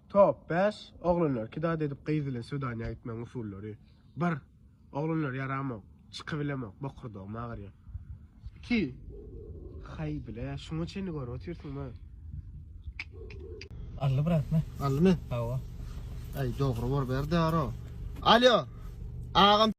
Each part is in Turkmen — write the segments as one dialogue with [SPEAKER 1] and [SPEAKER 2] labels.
[SPEAKER 1] Top bäş, Oglanlar kidad edip gyz bilen swedanýa gitmegiň usullary. Bir, Oglanlar ýaramok, çykybilemok, bokurdagym agyrýar. Iki, Haý, bile, şuňa çenli görüp otyrsyňmy?
[SPEAKER 2] Alli bratmy? Allimi? Hawa. Aý, dogry
[SPEAKER 3] bor, ber daro. Alýo! Agam!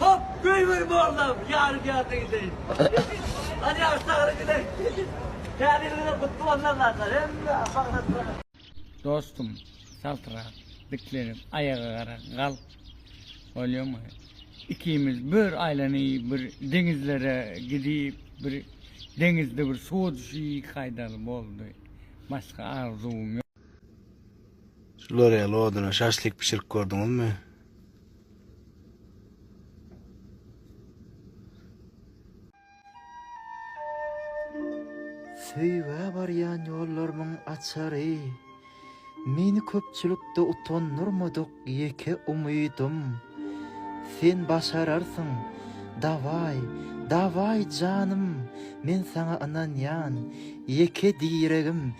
[SPEAKER 2] Hop, göýber mollam, ýarygärligi deý. Hany ýaş sagry gidek. Täzeligiňiz gutly bolsun Allahdan. Hemme baglatlara. Dostum saltrak diklenip aýaga gara galp bolýamy ikimiz bir aýlany bir deňizlere gidip bir deňizde bir suwa düşi kaýdaly boldy başga arzuwym ýok.
[SPEAKER 3] Şular ýaly oduna şaşlik bişirip gördüňizmi?
[SPEAKER 4] Söýgä barýan ýollarymyň açary. Meni köpçülikde utandyrmadyk ýeke umydym. Sen başararsyň, dawaý, dawaý janym, men saňa ynanýan, ýeke diregim,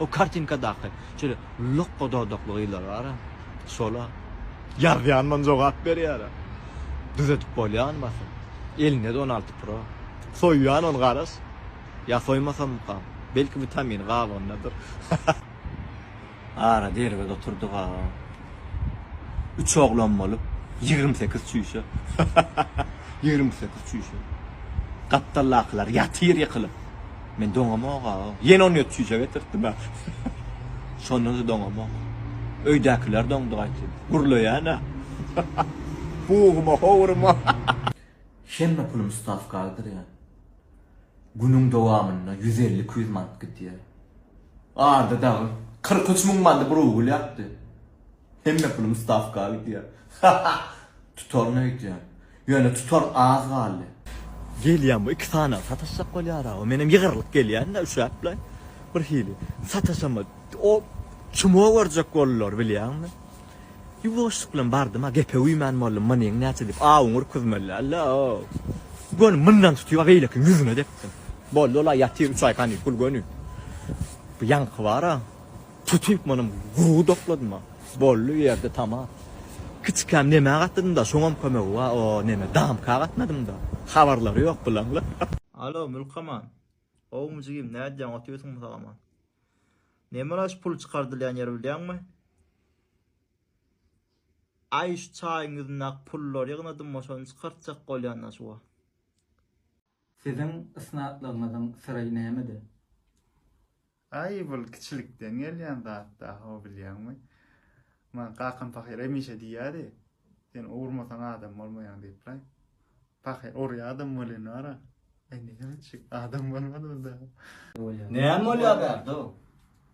[SPEAKER 5] O kartinkadaky şeýle lokga dodakly gyzlar bar-a, şol-a. Ýazýanman jogap berýär-ä. Düzedip bolýarmy basym? Elinde-de on alty pro. Soýýan ony garaş. Ýa soýmasammykam? Belki witamin gabygyndadyr. Ara derwez oturdyg-a. Üç oglan bolup, ýigrimi sekiz çüýşe. Ýigrimi sekiz çüýşe. Gapdaldakylar ýatyr ýykylyp. Men doňamok aga. Ýene on ýedi çüýje getirtdim ha. Şondan-da doňamok. Öýdäkiler doňdy gaýtyn. Gürleýän-ä. Pugyma, howryma.
[SPEAKER 4] Hemme pulum stawka agdyrýan. Günüň dowamynda ýüz elli, iki ýüz manat gidýär. Arda dagy kyrk üç müň mandy bir ugur ýakdy. Hemme pulum stawka gidýär. Tutar nätýär. Ýöne tutar az galdy. Gelýän
[SPEAKER 5] bu iki sany sataşjak bolýar awa menem ýygyrlyp gelýända üşäpler bir hili sataşama o çumo görjek boldular bilýäňmi ýuwaşlyk bilen bardym a gepe güýmän boldum manyň näçe diýip awuň ürküzmeliällä göni mundan tutyp a beýlekiň ýüzüne depdim boldy ol a ýatyr üç aý hany pul göni bu ýaňky bar a. Tutup munum gury dokladyma. Boldy bir ýerde tamam. Kiçikäm neme gatdydymda şoňam kömegi ba o neme damka gatnadymda. Habarlary ýok bulaňlar. Alo Mülkaman.
[SPEAKER 6] Howmy jigim nädýäň otyrsyňmy salaman. Nemala şu pul çykardylýan ýeri bilýäňmi? Aý şu çaýyň ýüzündäki pullary ýygnadymma şony çykartjak bolýan-da şu wagt.
[SPEAKER 4] Siziň ysnatlygyňyzyň
[SPEAKER 7] syry nämede? Aý bul kiçilikden gelýän zat da ho bilýäňmi? Maňa kakam pahyr hemişe diýýärdi, Sen owurmasaň adam bolmaýaň diýip-laý. Pahyr urýadam welin bar-a. Aý näme etjek, adam bolmadym da. Näme bolýar bärde-ow?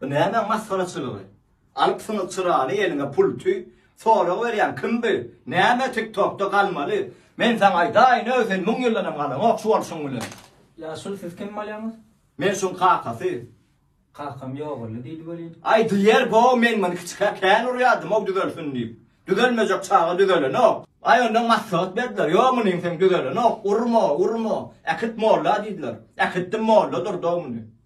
[SPEAKER 2] Bu näme masgaraçylygy? Alypsyňyz çyrany eliňe pulty, sorag berýän kim bu? Näme tik tokda galmaly? Men saňa aýdaýyn öý sen müň ýyldanam galaňok şu bolşuň bilen. Ýaşuly siz
[SPEAKER 4] kim bolýaňyz? Men şuň kakasy.
[SPEAKER 2] Kakam
[SPEAKER 4] ýogaldy diýdi welin. Aý diýer bo
[SPEAKER 2] men muny kiçikä kän urýardymow düzelsin diýip. Düzelmejek çaga düzelenok. Aý ondan maslahat berdiler. Ýok munyň sen düzelenok. Urma, urma. Äkit molla diýdiler. Äkitdim molla durdow muny.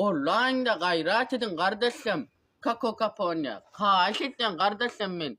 [SPEAKER 8] Gollaýyňda gaýrat ediň gardaşym. Kakokafoniýa. Haýyş edýän gardaşym men.